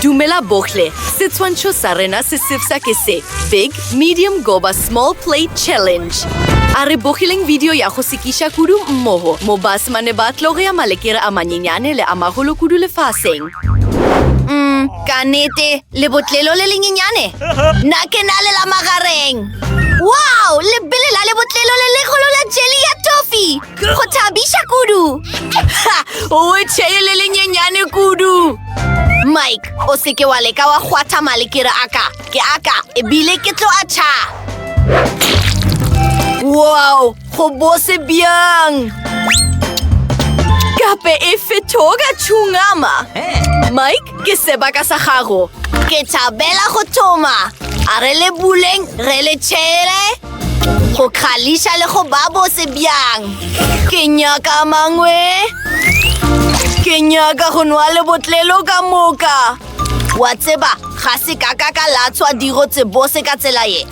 Dumela bohle, setshwantsho sa rena se sefsa ke se, Big, Medium goba Small Plate Challenge. A re bogileng video ya go sekiša kudu mmogo mo basemane ba tlo go ya malekere a manyenyane le a magolo kudu lefaseng. Mm, ka nete, lebotlelo le lenyenyane? Na ke na le la magareng! Wow, lebele la lebotlelo le legolo la jelly ya toffee! Go thabiša kudu! O tšhele le lenyenyane kudu! Mike, o seke wa leka wa kgwatha male ke re aka, ke aka, ebile ke tlo a tšha! Wow, go bose bjang! Gape e fetoga tšhungama! Mike, ke sebaka sa gago! Ke thabela go thoma! A re le buleng, re le tšhele! Go kgališa le go ba bose bjang. Ke nyaka mangwe. Ke nyaka go nwa le botlelo ka moka. Wa tseba, ga se ka ka ka latshwa diro tse bose ka tsela ye.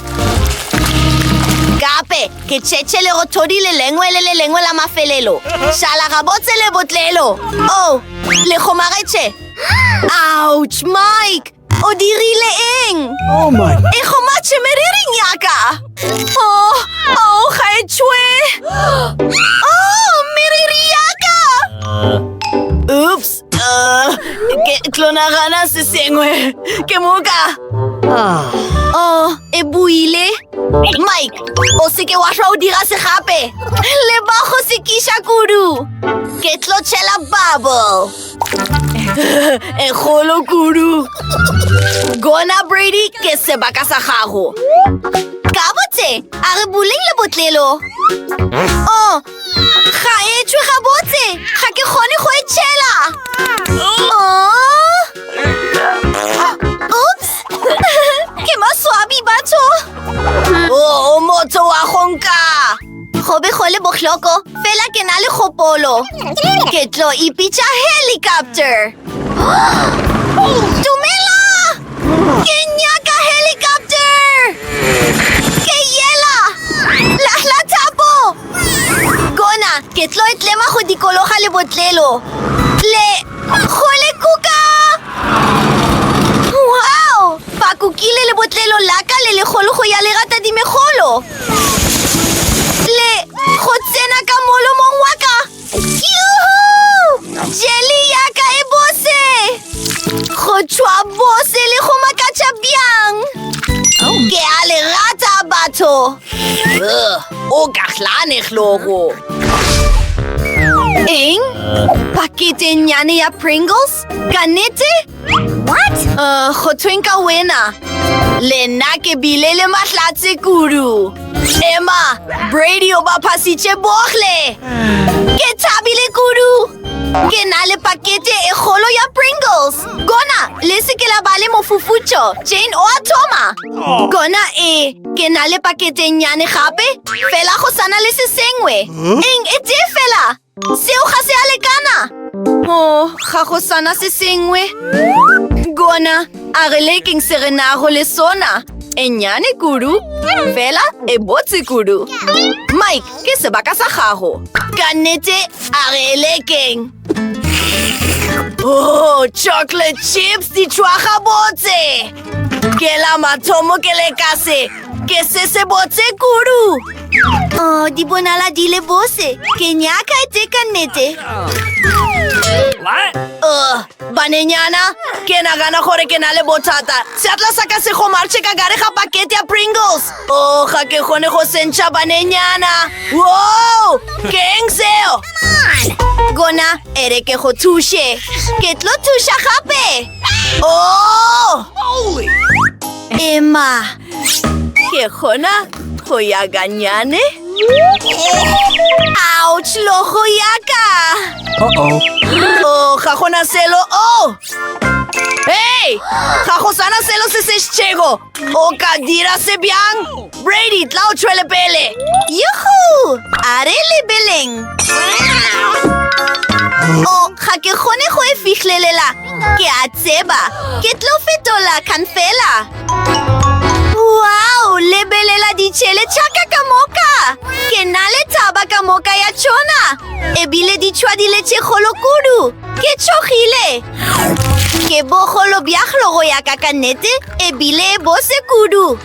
Gape, ke tšhetše le go thodi le lengwe le le lengwe la mafelelo. Šala gabotse le botlelo. Oh, le kgomagetše. Ouch, Mike! O dirile eng? Oh my. E gomatše meriring ya ka. Oh, oh, ga e tšwe. Oh, meriri ya ka. Oops. Uh, ke tlo nagana se sengwe. Ke moka. Ah. Oh, e buile. Mike, o seke wa hlwa o dira se gape. Le ba go sekiša kudu. Ke tlo tšhela bubble. e kgolo kudu gona brady ke sebaka sa gago ka botse a re boleng le botlelo o oh, ga e tšhwe ga botse ga ke kgone go e tšhela Go be go le bohloko, fela ke na le kgopolo. Ke tlo ipitša helicopter. Dumela! Ke nyaka helicopter! Ke yela! Lahla thapo! Kona, ke tlo e tlema go dikologa le botlelo. Le... go le kuka! Wow! Ba kukile le botlelo la ka le legolo go ya le rata dimegolo. le go tsena ka molomong wa ka jeli ya ka e bose go tšhwa bose le go makatša bjang ke a le rata batho o ka hlane hlogo eng paketenyane ya pringles ka nete What? Uh, go thweng ka wena le nna ke bile le mahlatse kudu emma brady o ba phasitše bohle ke thabile kudu ke na le pakete e kgolo ya pringles kona le se ke la ba le mofufutšo jane o a thoma kona e ke na le paketenyane gape fela go sana le se sengwe eng e tee fela Seo ga se a lekana! O, ga go sana se sengwe. Gona, a re lekeng se re nago le sona. E nnyane kudu, fela e botse kudu. Mike, ke sebaka sa gago. Ka nnete, a re e lekeng. Oh, chocolate chips di tšwaga botse! Ke la mathomo ke lekase, ke se se botse kudu! Oh, di bonala di le bose. Ke nyaka tse ka nnete. Oh, banenyana, ke nagana gore ke na le bothata. Seatla sa ka se gomarche ka gare ga pakete ya Pringles. Oh, ga ke kgone go sentšha banenyana. Wow! Ke eng seo? Gona, ere ke go thushe. Ke tlo thusha gape. Oh! Emma, Ke kgona go ya ganyane. Ouch, logo ya ka! Uh-oh. Oh, ga gona selo. Oh! Hey! Ga go sana selo se se šitšego. O ka dira se bjang? Brady, tla o tšhwele pele. Yuhu! A re lebeleng. Oh, ga ke kgone go e fihlelela. Ke a tseba. Ke tlo fetola khan fela. Wow, lebelela ditšhele tšhaka ka moka! Ke na le thaba ka moka ya tšona! Ebile di tšhwadile tše kgolo kudu! Ke tšhogile! Ke bogolo bja glo go ya ka ka nnete, ebile bo se kudu!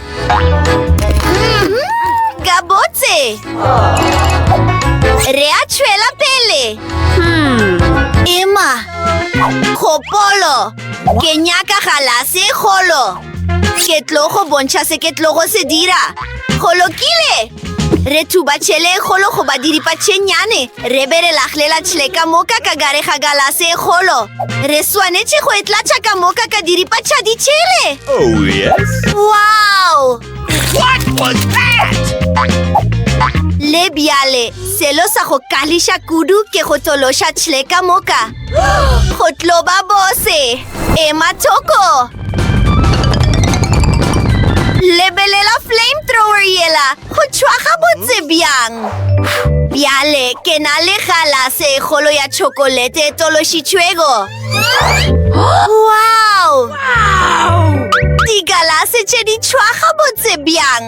Mhm, Ka botse! Re a tšhwela pele! Emma, kgopolo! Ke nyaka galase e kgolo. Ke tlo go bontšha se ke tlo go se dira. Go lokile! Re thuba tšhele e kgolo go ba diripa tšhenyane. Re be re laglela tšhele ka moka ka gare ga galase e kgolo. Re swanetše go e tlatša ka moka ka diripa tša ditšhele. Oh, yes. Wow! What was that? Le bjale, selo sa go kališa kudu ke go tološa tšhele ka moka. Go tlo ba bose! Ema thoko! Lebelela flamethrower yela go tšhwa ga botse bjang! Bjale ke na le galase e kgolo ya tšhokolete e tološitšhwego. Wow! Digalase tše di tšhwa ga botse bjang!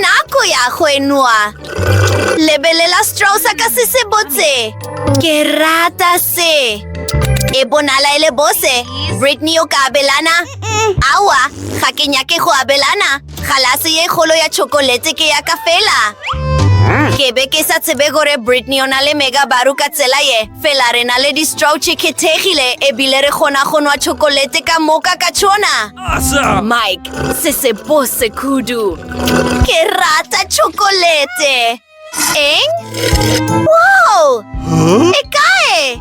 Nako ya go enwa! Lebelela straw sa ka se se botse. Ke rata se. E bonala e le bose. Brittany o ka abelana? Awa, ga ke nyake go abelana. Galase ye kgolo ya chocolate ke ya ka fela. Ke be ke sa tsebe gore Brittany o na le mega baru ka tsela ye. Fela re na le di-straw tše kgethegile ebile re kgona go nwa chocolate ka moka ka tšona. Asa! Mike, se se bose kudu. Ke rata chocolate. Eng? Wow! E kae?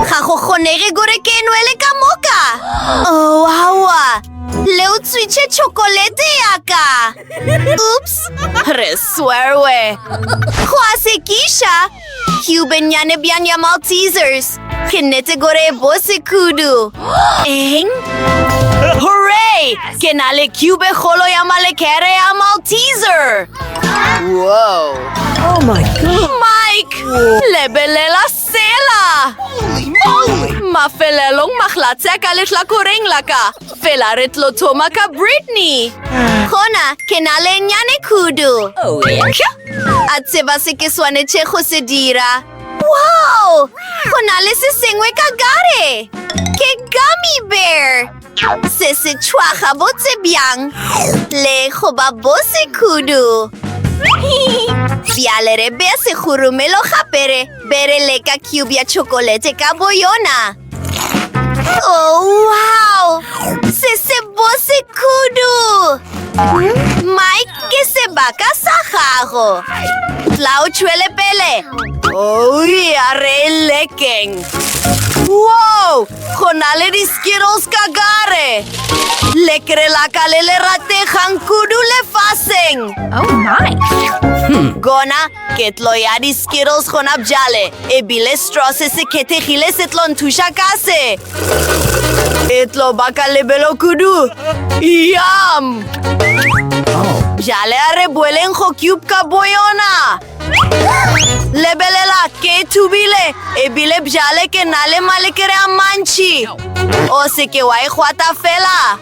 Ga go kgonege gore ke nwele ka moka. Oh, awa. Le utswitše chocolate ya ka. Oops! Re swerwe. Go a sekiša. Ke bennyane bjang ya Maltesers. Ke nnete gore e bose kudu. Eng? Hooray! Ke na le cube e kgolo ya malekere ya Malteser. Wow. Oh my god. Mike! Lebelela sela! Mafelelong maglatse a ka lehlakoreng la ka. Fela re tlo thoma ka Brittany. Gona ke na le nnyane kudu. Kyo! A tseba se ke swanetše go se dira. Wow! Go na le se sengwe ka gare! Ke gummy bear! Se se tšhwa gabotse bjang le go ba bose kudu. Bjale re bea segurumelo gape re be re leka cube ya tšhokolete ka boyona. Oh, wow! Se se bose kudu! Mike, ke sebaka sa gago. Tla o tšhwele pele. Oh, ya re lekeng. Wow! Go na le di-skittles ka gare. Lekere la ka le le rategang kudu lefaseng. Oh, my! Gona Ketlo ya di-skittles gona bjale, e bile straw se se khethegile se tlo nthuša ka se. E tlo ba ka lebelo kudu. Yum! Bjale a re boeleng go cube ka boyona. Lebelela, ke thubile, e bile bjale ke na le malekere a mantši. O se ke wa e gwata fela.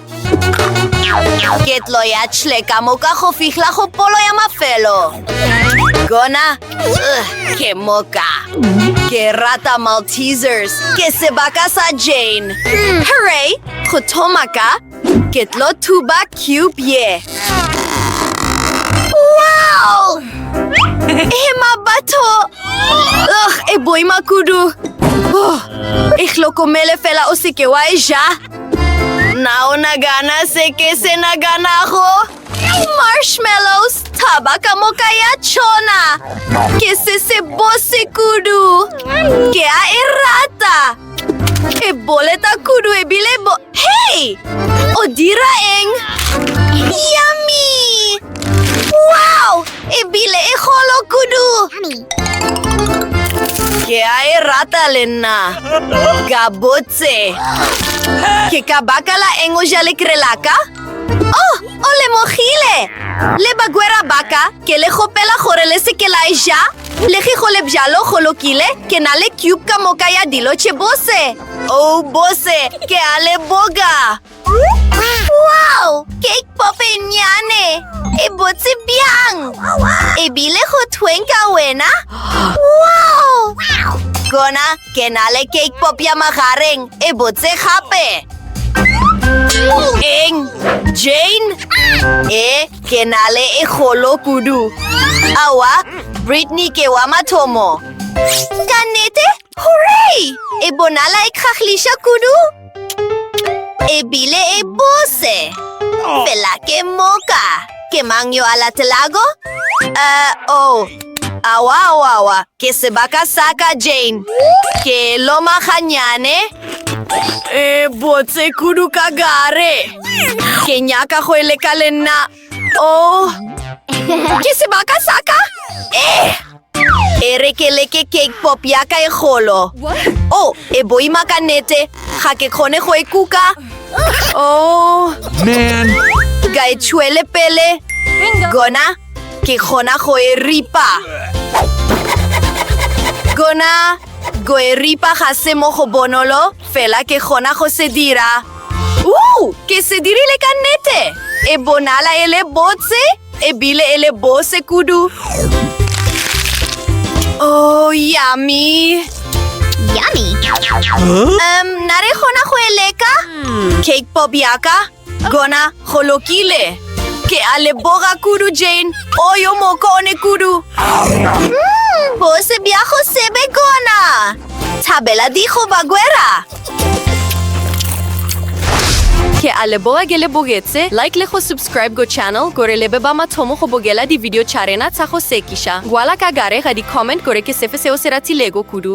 Ke tlo ya tšhle ka moka go fihla go polo ya mafelo. Gona, uh, ke moka. Ke rata Maltesers. Ke sebaka sa Jane. Hmm. Hooray! Go thoma ka, ke tlo thuba cube ye. Wow! Ema batho! Ugh, e boima kudu. Oh, e hlokomele fela o seke wa e ja. Na o nagana se ke se naganago? Marshmallows, thaba ka moka ya tšhona. Ke se se bose kudu. Ke a e rata. E boleta kudu ebile bo... Hei! O dira eng? Yummy! Wow! Ebile e golo kudu. Ke a e rata le nna. Ka bo Tse. Ke ka baka la eng o ja lekre la ka? Oh, o lemogile! Le bagwera ba ka, ke le gopela gore le se ke la e ja. Le ge go le bjalo go lokile, ke na le cube ka moka ya dilo tše bose. Oh, bose, ke a leboga! Wow! Cake pop e nnyane! E botse bjang! E bile go thweng ka wena? Wow! Gona ke na le cake pop ya magareng e botse gape! Eng? Jane? E, ke na le e golo kudu! Awa, Brittany ke wa mathomo! Ka nnete, Hooray! E bonala e kgahliša kudu. E bile e bose. Fela ke moka. Ke mang yo a latelago? Uh, oh. Awa, awa, awa. Ke sebaka sa ka, Jane. Ke loma ganyane. E botse kudu ka gare. Ke nyaka go e leka le nna. Oh, ke sebaka sa ka? Eh! E re ke leke cake pop ya ka e golo. Oh, e boima ka nete. Ga ke kgone go e kuka. Oh, Man, ka e tšhwele pele. Gona, ke kgona go e ripa. Gona, go e ripa ga se mo go bonolo, fela ke kgona go se dira. Woo! Ke se dirile ka nnete! E bonala e le botse ebile e le bose kudu. Oh, yummy! Yummy! Um, na re kgona go e leka? Cake pop yaka, gona go lokile. Ke a leboga kudu, Jane. O yo moko o ne kudu. Mm, bose bja go sebe gona. Thabela digo bagwera. Ke a leboga ke le bogetse like le go subscribe go channel gore le be ba mathomo go bogela di-video tša rena tsa go sekiša. Ngwala ka gare ga di-comment gore ke sefe seo se ratilego kudu.